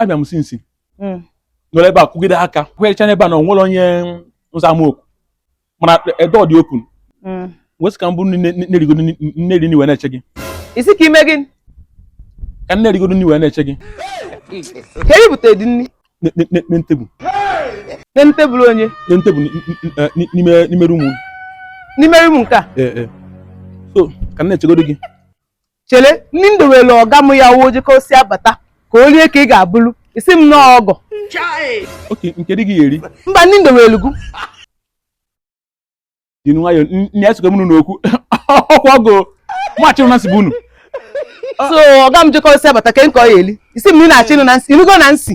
abịa m since hmm. nọrọ ebe a kwụgide aka kwụgherecha n'ebe a na onwere onye ụzọ ama okwu mana ebe ọ dị okwu hmm. wesị ka m buru na-erigo na-eri nri wee na-eche gị ị sị ka i mee gịnị ka m na-erigo nri wee na-eche gị ka e bute dị nri na tebụl na tebụl onye na tebụl n'ime rumu n'ime rumu nke a so ka m na-echegodo gị chere nri m dowere ọga m ya oji ka o si abata ka o rie ka ị ga-eburu ị sị m nọọ ọgọ okay nke dị gị eri mba nri m dowere gụ dị nwayọ nne esokọ mụnụ n'okwu ọkwa ọgọ machịrụ na nsị bụ unu so ọga m jekọ si abata ka nke ọ ya-eli ị sị m na ị na-achị ịnụ na nsị ịnụgo na nsị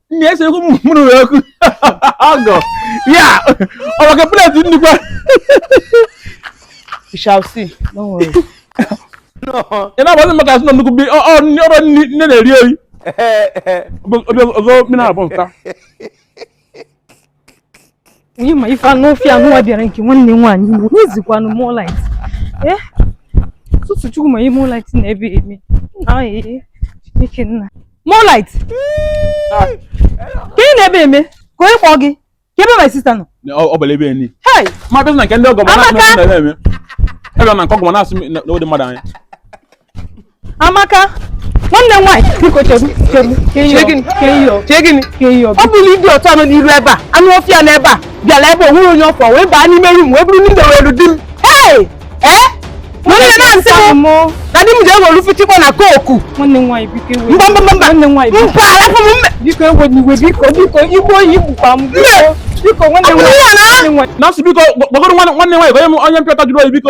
nne ya sịrị mụrụ wee kwu ọgọ ya ọ maka pleti nnukwu we shall see don't worry ị na-agbazi maka asị na nnukwu bi ọ- ọ- nri- ọrụ nri- nne na-eri eri Ọ bụ- ọ bụ- ọzọ mmiri abụọ nta onye ma ife anụ ọfịa nwa bịara nke nwanne nwaanyị Igbo n'ezikwanụ moonlight ee eh? tọtọ chukwu ma ihe moonlight nọ ebe a eme na ee Chineke nna moonlight ah. kee ihe ị nọ ebe a eme kee onye kpọọ gị kee ebe my sister nọ ọ bụla ebe enyi ma bịa na nke ndị ọgọ bụ na-eme ebe na nke ọgọ na-asị na ụdị mmadụ anya amaka nwanne nwaanyị biko chebu chebu chee gịnị ọ bụrọ idiot a nọ n'iru ebe a anụ ọfịa nọ ebe a bịara ebe o nwerọ onye ọ fụ wee baa n'ime rum wee buru nri m dowere di m ee ee nwanne na-asị m na di m ji ewere fichikwa na koku mba mba mba mba mba arapụ m mme biko ewena iwe biko biko i gbuo ya i gbukwa m biko nwanne nwaanyị na-asị biko gbaghara nwanne nwaanyị onye mpịọta jụrụ oyi biko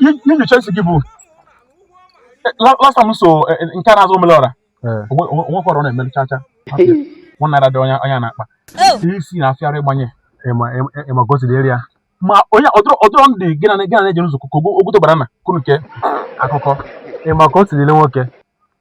Iji Chelsea gị bụ last time so eh, eh, nke a na-azụ omelọra onwekwara ọ na-emere chacha one naira dị onye a n'akpa ihe isi na-afịara ịgbanye ịma ka o siri eri ya ma onye ọ dịrọ ndị gị na na-eje nzukọ ka ogwuto bara na kunu nke akụkọ ịma ka o siri ile nwoke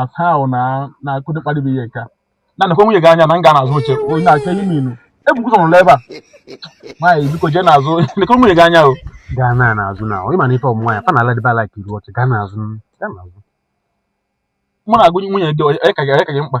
as how na kee ụdị mkparị bụ ihe nke a nekwa nwunye gị anya na nga a n'azụ oche onye na-aka ihe minu ebukwu ụzọ nọrọ ebe a nwaanyị biko jee n'azụ lekwa nwunye gị anya o gaa na n'azụ na ịma na ife ụmụ nwaanyị fa na ala dịba like iru oche gaa n'azụ gaa n'azụ mụ na-agụ nwunye gị onye ka gị onye ka gị mkpa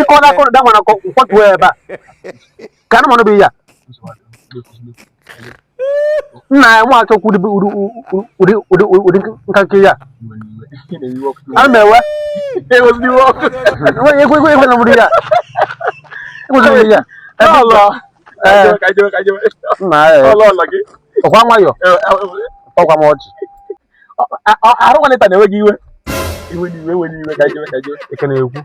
ịkọ na akọrọ da mana nkwatuo ya ebe a ka anụmanụ bụ ya nna ya na-achọ okwu ụdị nka nke ya ana m ewe ekwe na mụrụ ya ekweziri ya nna ya ọkwa nwayọ ọkwa m ọchị arụ nwanne ta na-ewe gị iwe iwe n'iwe iwe n'iwe ka jewe ka jewe eke na-ekwu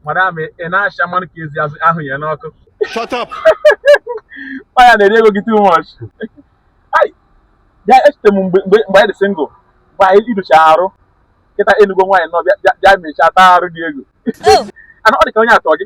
madam ị na-acha mmanụ ka ezi ahụ ya n'ọkụ shut up ọ ya na-eri ego gị too much bịa echete m mgbe mgbe anyị dị single mgbe anyị idocha arụ kịta ị nụgo nwaanyị nọ bịa mechaa taa arụ gị ego oh. ana ọ dị ka onye atọ gị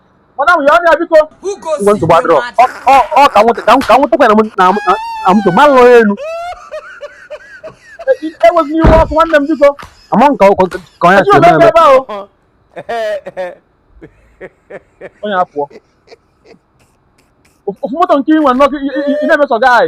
Madam, ya ọnya biko. Ngwa nsogbu adịrọ. Ọ ka nwụta ka nwụtakwa na na moto ma lụọ elu. Ewezina iwe ọkụ nwanne m biko. Ama nke ọkụ ka onye si eme eme. Onye apụọ. Ofu moto nke ị nwe nnọọ ị na-emeso guy.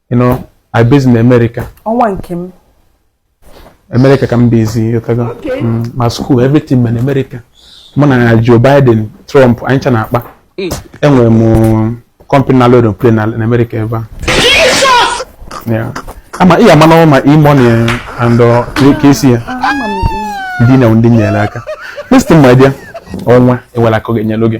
you know I based in America ọnwa nke m America ka m bezi ịghọtago Okay. Mm, ma school everything ma na America mụ na Joe Biden Trump anyị ncha na-akpa enwere m company na-load plane na America ebe a Yeah. ama ị ga-ama n'ọnwa ma E-money and uh, Kcee. ndị na ndị nyere aka listen my dear ọnwa ewela aka gị nyelụ gị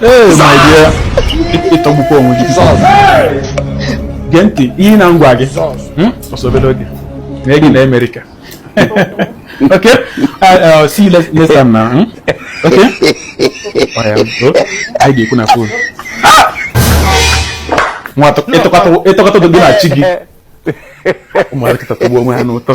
Hey, my dear. Ị tọgbukwa onwe gị. Gee ntị ihe m na-agwa gị. Hmm? Ọ sọ obere oge. Mee gị na Amerịka. Okay? Uh, uh, see you next time now. Hmm? Okay? Anyị ga-ekwu na fon. Nwa ị tọka ụtọ gị na chi gị. Ụmụaka kịta atọgbu onwe ha n'ụtọ.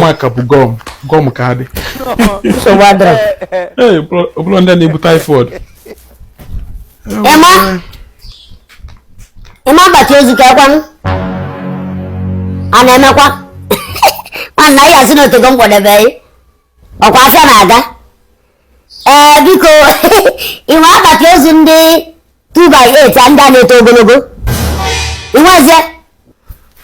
maka ọ bụ gọm gọm ka a dị ọ bụrọ ndị na-ebu typhoid Emma akpati ozu kee kwanụ a na-emekwa nwanna ị ya-asị na o tego m kpọdebe gị ọ kwa afịa na-aga ee biko ị nwe akpati ozu ndị 2 by 8 ndị a na-eto ogologo ị nwezie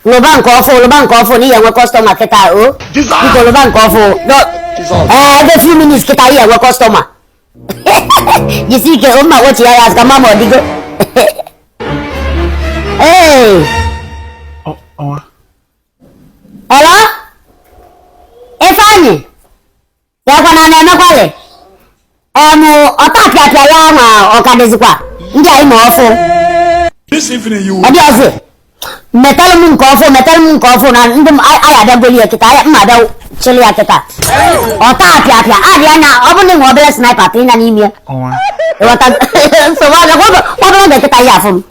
lụba nke ọfụ lụba nke ọfụ na ị ya-enwe customer kịta o biko lụba nke ọfụ ee every few minutes kịta ị ya-enwe customer jisi ike o m ma-akpọchi ya azụ ka m ma ma ọ dịgo ee Hello? Ifeanyi? Kee kwanụ a na-emekwalị? Ọnụ ọtapịapịa ya ma ọ ka dịzikwa ndị anyị ma ọfụ. This evening you will. Ọ dịrọzị. Metalụ m nke ọfụ, metalụ m nke ọfụ na ndị m anyị abịa goli ya kịta, anyị ma-abịa chịlị ya kịta. Ọtapịapịa adịna, ọ bụrụ na ị nwe obere sniper tinye n'ime ya. Ịghọta nsogbu adịrọkwa, obere oge kịta ị ya-afụ m.